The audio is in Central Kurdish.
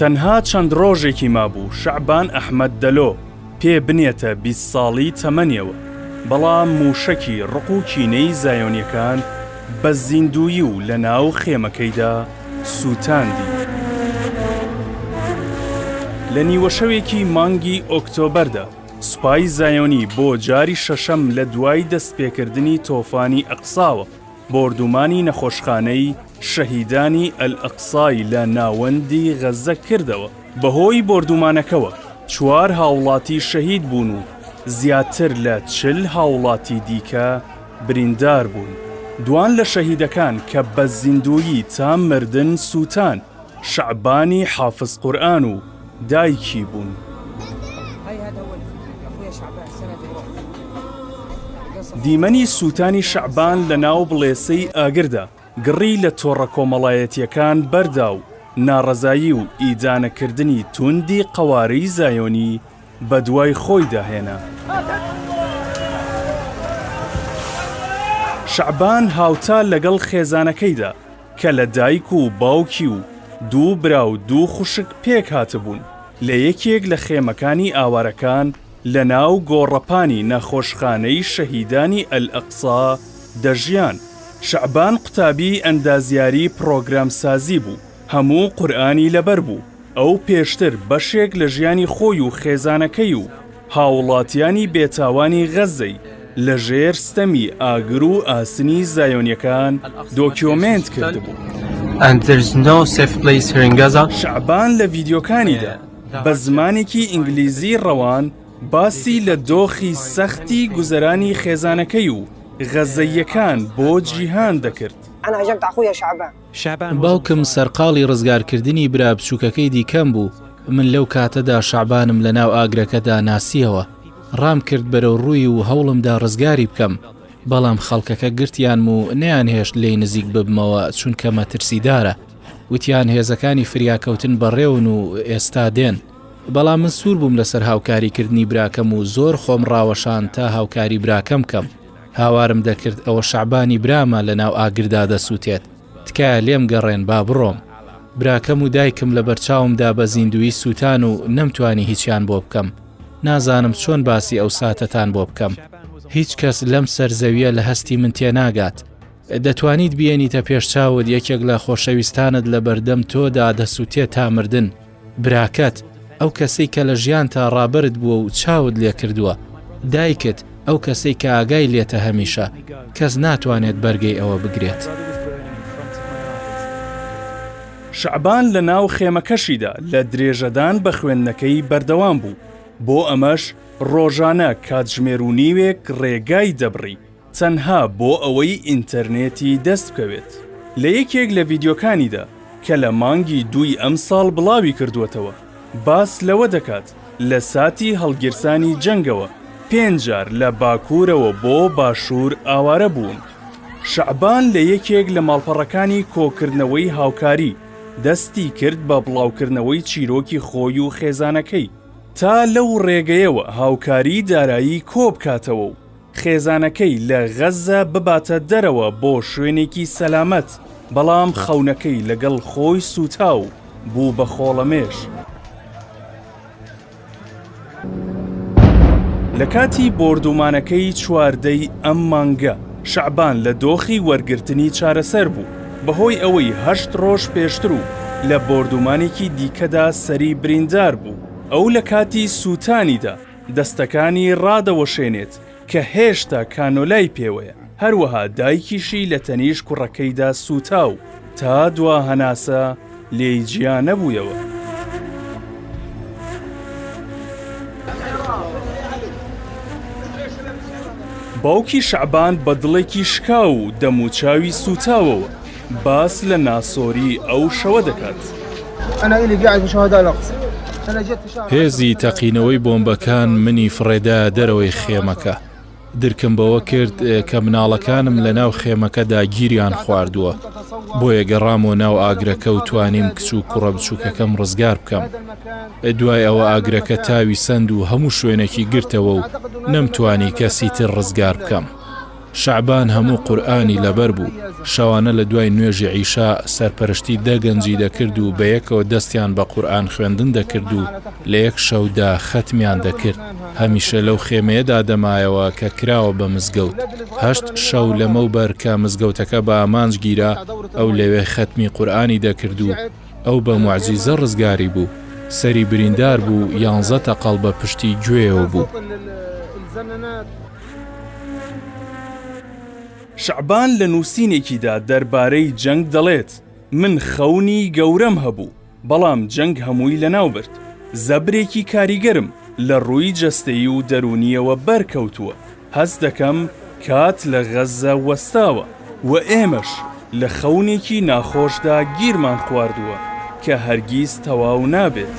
تەنها چەند ڕۆژێکی مابوو شەعبان ئەحمەد دەلۆ پێ بنێتە بیست ساڵی تەمەنیەوە، بەڵام مووشەکی ڕق و کینەی زایۆنیەکان بە زیندوویی و لە ناو خێمەکەیدا سووتاندی. لە نیوەشەوێکی مانگی ئۆکتۆبەردا سوپای زایۆنی بۆ جاری شەشەم لە دوای دەستپێکردنی تۆفانی ئەقساوە بۆردومانی نەخۆشخانەی شەهیدانی ئەلئەقسای لە ناوەندی غەززە کردەوە، بەهۆی بۆردومانەکەوە چوار هاوڵاتی شەهید بوون و زیاتر لە چل هاوڵاتی دیکە بریندار بوون، دوان لە شەهیدەکان کە بە زیندوویی تا مردن سووتان، شەعبانی حافز قورئان و دایکی بوون. دیمەنی سووتانی شەعبان لە ناو بڵێسەی ئاگردا، گڕی لە تۆڕە کۆمەڵایەتییەکان بەردا و ناڕەزایی و ئیدانەکردنی تووندی قەوارەی زایۆنی بەدوای خۆیدا هێنا. شەعبان هاوتا لەگەڵ خێزانەکەیدا، کە لە دایک و باوکی و دوو برا و دوو خوشک پێک هاتبوون، لە یەکێک لە خێمەکانی ئاوارەکان لە ناو گۆڕەپانی نەخۆشخانەی شەهیدانی ئەلئەقسا دەژیان. شەعبان قوتابیی ئەندازیاری پڕۆگرامسازی بوو. هەموو قورئانی لەبەر بوو، ئەو پێشتر بەشێک لە ژیانی خۆی و خێزانەکەی و هاوڵاتیانی بێتاوانی غەززەی لە ژێر ستەمی ئاگر و ئاسنی زایۆنیەکان دۆکیۆمێنت کردبوو. شەعبان لە ڤیدیۆکانیدا بە زمانێکی ئینگلیزی ڕەوان باسی لە دۆخی سەختی گوزەرانی خێزانەکەی و غەززەییەکان بۆ جیهان دەکرد. باوکم سەرقاڵی ڕزگارکردنی برا بچووکەکەی دیکەم بوو، من لەو کاتەدا شەعبانم لەناو ئاگرەکەدا ناسییەوە، ڕامکرد بەرەو ڕووی و هەوڵمدا ڕزگاری بکەم، بەڵام خەڵکەکە گرتیانم و نەیانهێشت لێی نزیک ببمەوە چونکە مەترسیدارە، وتیان هێزەکانی فریاکەوتن بەڕێون و ئێستا دێن، بەڵام من سوور بووم لەسەر هاوکاریکردنی براکەم و زۆر خۆم ڕاوەشاند تا هاوکاری براکەم بکەم. هاوارم دەکرد ئەوە شەعبانی برامە لە ناو ئاگردا دەسووتێت، تکایە لێم گەڕێن با بڕۆم. براکەم و دایکم لە بەرچاوم دا بە زیندوویی سووتان و نەمتوانی هیچیان بۆ بکەم. نازانم چۆن باسی ئەو ساتەتان بۆ بکەم. هیچ کەس لەم سەر زەوییە لە هەستی من تێناگات. دەتوانیت بیێنیتە پێش چاوت یەکێک لە خۆشەویستانت لە بەردەم تۆ دا دەسووتێت تا مردن. براکەت، ئەو کەسەی کە لە ژیانتا ڕابەرت بووە و چاوت لێ کردووە. دایکت، ئەو کەسەی کە ئاگای لێتە هەمیشە. کەس ناتوانێت بەرگەی ئەوە بگرێت. شەعبان لە ناو خێمەکەشیدا لە درێژەدان بە خوێندنەکەی بەردەوام بوو، بۆ ئەمەش ڕۆژانە کاتژمێر و نیوێک ڕێگای دەبڕی تەنها بۆ ئەوەی ئینتەرنێتی دەست بکەوێت. لە یەکێک لە ڤیدیۆکانیدا کە لە مانگی دووی ئەمساڵ بڵاوی کردووەتەوە، باس لەوە دەکات لە ساتی هەڵگیرسانی جەنگەوە پێنج جار لە باکوورەوە بۆ باشوور ئاوارە بوون. شەعبان لە یەکێک لە ماڵپەڕەکانی کۆکردنەوەی هاوکاری دەستی کرد بە بڵاوکردنەوەی چیرۆکی خۆی و خێزانەکەی تا لەو ڕێگەیەوە هاوکاری دارایی کۆبکاتەوە و خێزانەکەی لە غەززە بباتە دەرەوە بۆ شوێنێکی سەلامەت، بەڵام خەونەکەی لەگەڵ خۆی سووتا و بوو بە خۆڵەمێش. لە کاتی بۆردوومانەکەی چواردەی ئەم مانگە شەعبان لە دۆخی وەرگرتنی چارەسەر بوو، بەهۆی ئەوەی هەشت ڕۆژ پێشتر و لە بۆردوومانێکی دیکەدا سەری بریندار بوو، ئەو لە کاتی سووتانیدا، دەستەکانی ڕادەوەشێنێت کە هێشتا کانۆلای پێوەیە، هەروەها دایکیشی لە تەنیشت کوڕەکەیدا سووتا و تا دوا هەناسە لێی جیا نەبوویەوە. باوکی شەعبان بە دڵێکی شکاو و دەموچاوی سووتاوەوە، باس لە ناسۆری ئەو شەوە دەکات. هێزی تەقینەوەی بۆمبەکان منی فڕێدا دەرەوەی خێمەکە. درکم بەوە کرد کە مناڵەکانم لە ناو خێمەکەدا گیریان خواردووە. بۆیە گەڕامەوە ناو ئاگرەکە و توانیم کچ و کوڕە بچووکەکەم ڕزگار بکەم. دوای ئەوە ئاگرەکە تاوی سەند و هەموو شوێنێکی گرتەوە و نەمتوانی کەسی تر ڕزگار بکەم. شەعبان هەموو قورئانی لەبەر بوو، شەوانە لە دوای نوێژی عیشا سەرپەرشتی دە گەنجی دەکرد و بەیەکەوە دەستیان بە قورئان خوێندن دەکرد و لە یەک شەودا خەتمیان دەکرد، هەمیشە لەو خێمەیەدا دەمایەوە کە کراوە بە مزگەوت، هەشت شەو لەمەوبەر کە مزگەوتەکە بە ئامانج گیرا ئەو لەوێ خەتمی قورئانی دەکرد و ئەو بە موعجیزە ڕزگاری بوو، سەری بریندار بوو یانزە تەقەڵ بە پشتی گوێیەوە بوو. شەعبان لە نووسینێکیدا دەربارەی جەنگ دەڵێت، من خەونی گەورەم هەبوو، بەڵام جەنگ هەمووی لەناوبرد. زەبرێکی کاریگەرم لە ڕووی جەستەیی و دەروونییەوە بەرکەوتووە، هەست دەکەم کات لە غەززە وەستاوە. و ئێمەش لە خەونێکی ناخۆشدا گیرمان خواردووە کە هەرگیز تەواو نابێت.